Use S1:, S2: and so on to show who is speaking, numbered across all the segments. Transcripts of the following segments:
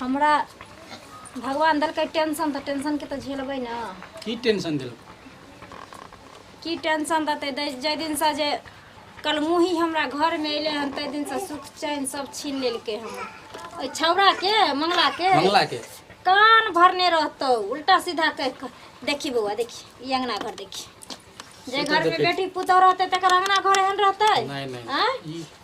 S1: हमरा भगवान देलकै टेंशन तऽ टेंशनके तऽ झेलबै ने की टेंशन देलक की टेंशन देतै दै- जाहि दिनसँ जे कलमुही हमरा घरमे एलै हन ताहि दिनसँ सुख चैन सब छीन लेलकै हमर ओहि छौड़ाके मंगलाके मंगला के कान भरने रहतौ उल्टा सीधा कहि कऽ देखी बौआ देखी ई अंगना घर देखी जे से तऽ घरमे देखै छी। बेटी पुतहु रहतै तकर अंगना घर एहन रहतै नहीं नहीं आँय? ई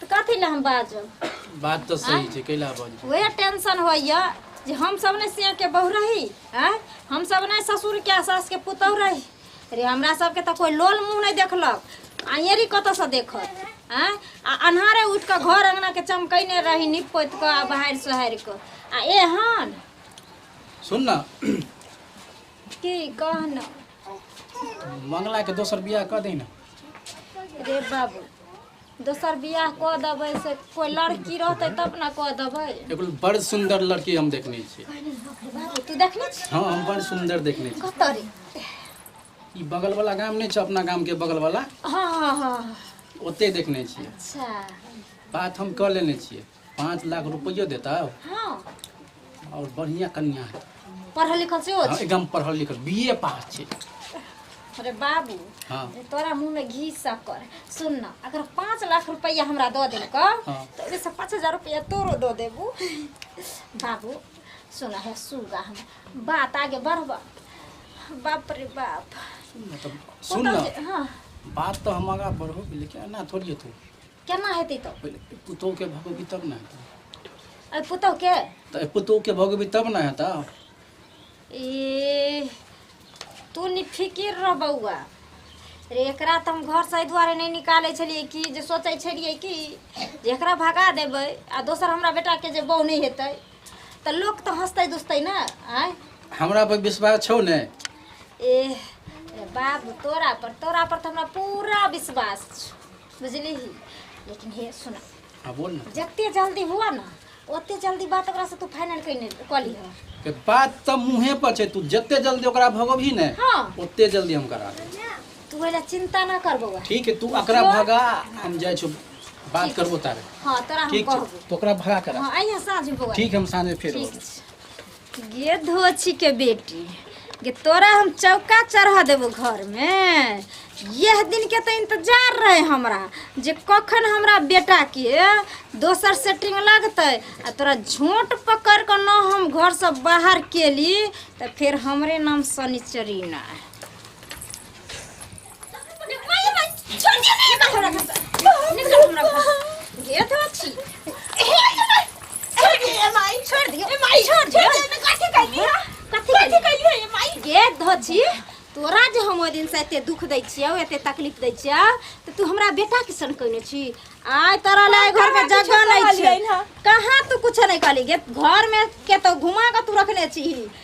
S1: तऽ कथी लए हम बाजब बात तऽ सही छै कैला बाजू वएह टेंशन होइए जे हमसभ ने सियाके बहु रही आँय हमसभ ने ससुरके आ सासके पुतहु रही रे हमरा सभके तऽ कोइ लोल मुँह नहि देखलक आइएरी कतऽसँ देखत आँय आ अन्हारे उठि कऽ घर अङ्गनाके चमकैने रही नीप पोति कऽ आ बहारि सोहारि कऽ आ एहन सुन न की कहना मंगला के दोसर बियाह कऽ दे न रे बाबू दोसर बियाह कऽ देबै से कोइ लड़की रहतै तब ने कऽ देबै एगो बड़ सुंदर लड़की हम देखने छी बाबू तू देखने छी हाँ हम बड़ सुंदर देखने छी कतऽ रे ई बगल वाला गाम नहीं छै अपना गाम के बगल वाला हाँ हाँ हाँ ओते देखने छी अच्छा बात हम कऽ लेने छियै पाँच लाख रुपयो देता हाँ और बढ़िया कन्या है पढ़ल लिखल से हाँ, एकदम पढ़ल लिखल बीए पास छे अरे बाबू हाँ जे तोरा मुंह में घी सकर सुन ना अगर पाँच लाख रुपया हमरा दो दे का हाँ। तो एमे से पाँच हजार रुपया तोरो दो देबू बाबू सुना है सुगा हम बात आगे बढ़बा बाप रे बाप मतलब सुन ना हाँ बात तो हम आगा बढ़ो लेकिन ना थोड़ी है तू केना हेतै तऽ पहिले एहि पुतोहके भगेबी तब ने हेतै एहि पुतोहके तऽ एहि पुतोहके भगेबी तब ने हेतै ए तू निफिकिर रह बौआ रे एकरा तऽ हम घरसँ एहि दुआरे नहि निकालै छलियै कि जे सोचै छलियै कि जे एकरा भगा देबै आ दोसर हमरा बेटाके जे बहू नहि हेतै तऽ लोक तऽ हँसतै दुसतै ने आँय हमरा पर विश्वास छौ ने ए ए बाबू तोरा पर तोरा पर तऽ हमरा पूरा विश्वास छौ बुझली ही लेकिन हे सुन हाँ बोल ना जते जल्दी हुआ ना ओते जल्दी बात ओकरा से तू फाइनल कइने कली हो के बात तो मुँहे पर छै तू जते जल्दी ओकरा भगबही ने हाँ। ओते जल्दी हम करा देब। तू एला चिंता ना कर बौआ ठीक है तू ओकरा भगा हम जाइ छौ बात करबो तारे हाँ तोरा हम ठीक छै कहबो तो ओकरा भगा करा हाँ आइया साँझ में बौआ ठीक हम साँझ में फेर ठीक अबो। छै गे धोछी के बेटी गे तोरा हम चौका चढ़ा देबो घर में यह दिन के तो इंतजार रहे हमरा जे कखन हमरा बेटा के दोसर सेटिंग लगते आ तोरा झोंट पकड़ के न हम घर से बाहर केली तो फिर हमरे नाम शनिचरी ना है तोरा जे हम ओहि दिनसँ एते दुख दै छियौ एते तकलीफ दै छियौ तऽ तू हमरा बेटा किसन कहने छी आइ तोरा ले घर के जगह नहीं छै कहाँ तू कुछ नहीं कहली गे घर में के तो घुमा के तू रखने छी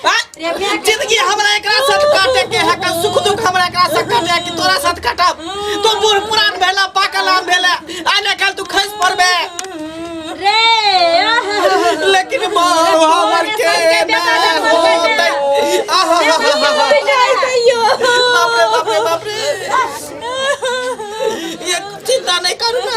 S1: जिंदगी हमरा एकरा साथ काटे के है का सुख दुख हमरा एकरा साथ काटे है कि तोरा साथ काटब तो बूढ़ पुरान भेला पाकल आम भेला आने कल तू खस पड़बे रे लेकिन माँ हमर के ना होतै आहा हा हा हा हा बाप रे बाप रे बाप रे ये चिंता नहीं करू ना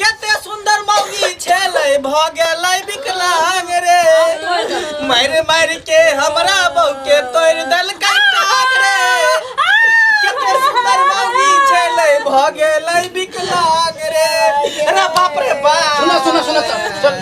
S1: केते सुंदर मौगी छेलै भ गेलै विकलांग रे मार मार के हमरा बहू के तोड़ देलकै टांग रे केते सुंदर मौगी छेलै भ गेलै विकलांग रे अरे बाप रे बाप सुनो सुनो सुनो सुनो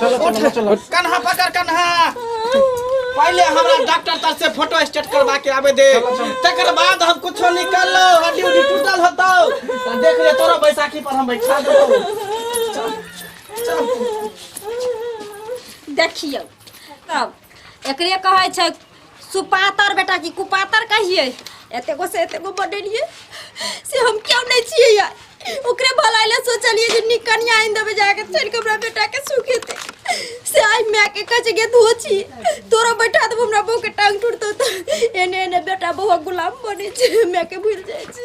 S1: चलो चलो चलो कन्हा पकड़ कन्हा पहले हमरा डॉक्टर तर से फोटो स्टेट करवा के आवे दे तकर बाद हम कुछ निकाल लो हड्डी उड्डी टूटल होतो त देख ले तोरा बैसाखी पर हम बैठा देबो देखियो तब एकरे कहै छै सुपातर बेटा की कुपातर कहिए एते गो से एते गो बनेलिए से हम क्यों नहीं छिए या ओकरे भलाई ले सोचलिए जे नी कन्या आइन देबे जाके चल के हमरा बेटा के सुखे दे से आई मैं के कच गे धो छी तोरा बैठा देबो हमरा बो के टांग टूटतो तो एने एने बेटा बो गुलाम बने छै मैं के भूल जाय छी